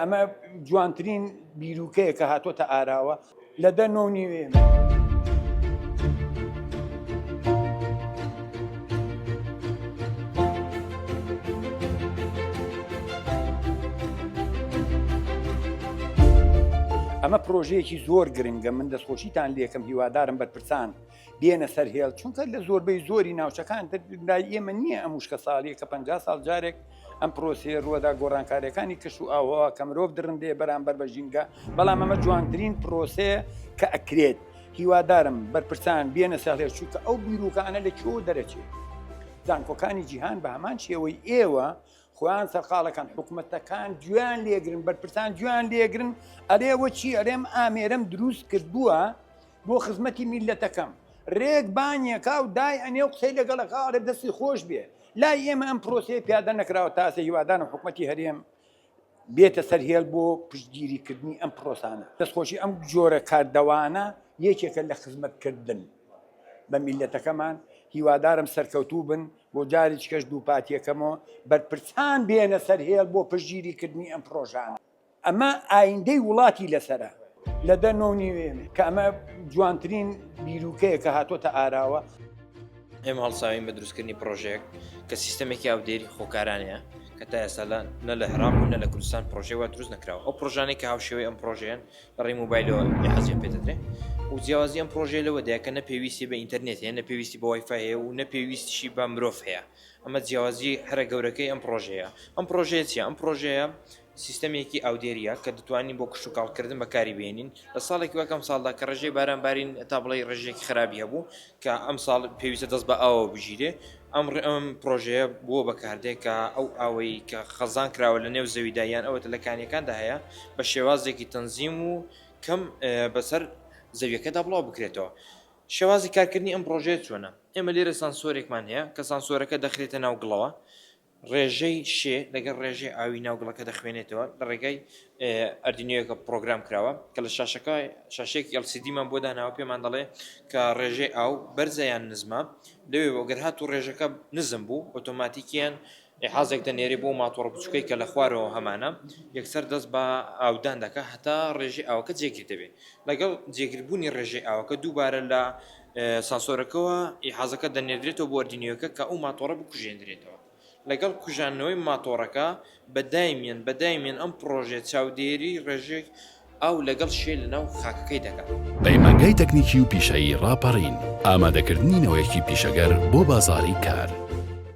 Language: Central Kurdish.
ئەمە جوانترین بیرروکەیە کە هاتۆتە ئاراوە لە دە نۆ نیوێ. ئەمە پرۆژەیەکی زۆر گرنگە من دەستخۆشیتان لەکەم هیوادارم بەرپرسان بێنە سەر هێڵ چونکە لە زۆربەی زۆری ناوچەکان لای ئێمە نییە ئەم وشکە ساڵیە کە پ ساڵ جارێک ئەم پرۆسی ڕوەدا گۆڕانکاریەکانی کەش و ئاوا کە مرۆڤ درندێ بەرامبەر بە ژینگە بەڵام ئەمە جوانترین پرۆسێ کە ئەکرێت هیوادارم بەرپرسان بێنە ساڵێ چووکە ئەو بیرروکانە لە چۆ دەرەچێت زانکۆکانی جیهان بە هەمان شێوەی ئێوە خۆیان سەرقاڵەکان حکومەتەکان گوێیان لێگرن بەرپرسان گوێیان لێگرن ئەرێ وە چی ئەرێم ئامێرم دروست کردووە بۆ خزمەتی میلەتەکەم رێک بانیەکە و دای ئەنێ و قسەی لەگەڵەکە ئەڵێ دەستی خۆش بێ لای ئێمە ئەم پرۆسەیە پیادە نەکراوە تاسە هیوادارم حکومەتی هەرێم بێتە سەر هێڵ بۆ پشتگیریکردنی ئەم پرۆسانە دەستخۆشی ئەم جۆرە کاردەوانە یەکێکە لە خزمەتکردن بە میلەتەکەمان هیوادارم سەرکەوتوو بن بۆ جاریچکەش دووپاتیەکەمەوە بەرپرسان بێنە سەر هێڵ بۆ پشتگیری کردنی ئەم پرۆژانە ئەمە ئایندەی وڵاتی لەسەرە. لە دە نۆ و نیوێ کە ئەمە جوانترین بیروکەیە کە هاتۆتە ئاراوە. ئێمە هەڵساوین بە دروستکردنی پرۆژەیەک کە سیستەمێکی ئاودێری خۆکارانەیە کە تا ئێستا نە لە عێراق و نە لە کوردستان پرۆژەی وا دروست نەکراوە ئەو پرۆژانەی کە هاوشێوەی ئەم پرۆژەیەن بەڕی موبایلەوە حەزیان پێ دەدرێ و جیاوازی ئەم پرۆژەیە لەوە دەیە کە نەپێویستی بە ئینتەرنێت هەیە نەپێویستی بە وایفای هەیە و نەپێویستیشی بە مرۆڤ هەیە ئەمە جیاوازی هەرە گەورەکەی ئەم پرۆژەیە ئەم پرۆژەیە چی ئەم پرۆژەیە سیستەمێکی ئاودێریە کە دەتوانین بۆ کشت و کاڵکردن بەکاری بێنین لە ساڵێکی وەکەم ساڵدا کە ڕێژەی باران بارین تا بڵێ ڕێژێکی خراپی هەبوو کە ئەمساڵ پێویستە دەست بە ئاوەوە بگیرێ، ئەم ئەم پڕۆژەیە بۆ بەکاردێ کە ئەو ئاوەی کە خەزان کراوە لە نێو زەویدا یان ئەوەتە لە کانیەکاندا هەیە بە شێوازێکی تەنزیم و کەم بەسەر زەویەکەدا بڵاو بکرێتەوە. شێوازی کارکردنی ئەم پڕۆژەیە چۆنە؟ ئێمە لێرە سانسۆرێکمان هەیە کە سانسۆرەکە دەخرێتە ناو گڵەوە، ڕێژەی شێ لەگەڵ ڕێژەی ئاوی ناو گڵەکە دەخوێنێتەوە لە ڕێگای ئەردینۆیەکە پڕۆگرام کراوە کە لە شاشەکە شاشەیەکی ئەڵسیدیمان بۆ داناوە پێمان دەڵێ کە ڕێژەی ئاو بەرزە یان نزمە لەوێ بۆگەر هات و ڕێژەکە نزم بوو ئۆتۆماتیکیان حازێک دەنێری بۆ ماتۆڕ بچووکەی کە لە خوارەوە هەمانە یەکسەر دەست بە ئاودان دەکە هەتا ڕێژی ئاوەکە جێگیر دەبێت لەگەڵ جێگربوونی ڕێژەی ئاوەکە دووبارە لە ساسۆرەکەوە ئیحازەکە دەنێردرێتەوە بۆ ئەردینیۆکە کە ئەو ماتۆڕە بکوژێندرێتەوە لەگەڵ کوژاندنەوەی ماتۆڕەکە بە دایمیان بە دایمیان ئەم پڕۆژێ چاودێری ڕێژێک ئاو لەگەڵ شێ لەناو خاکەکەی دەکات. پەیمانگای تەکنیکی و پیشەیی ڕاپەڕین، ئامادەکردنی نەوەیەکی پیشەگەر بۆ بازاڕی کار.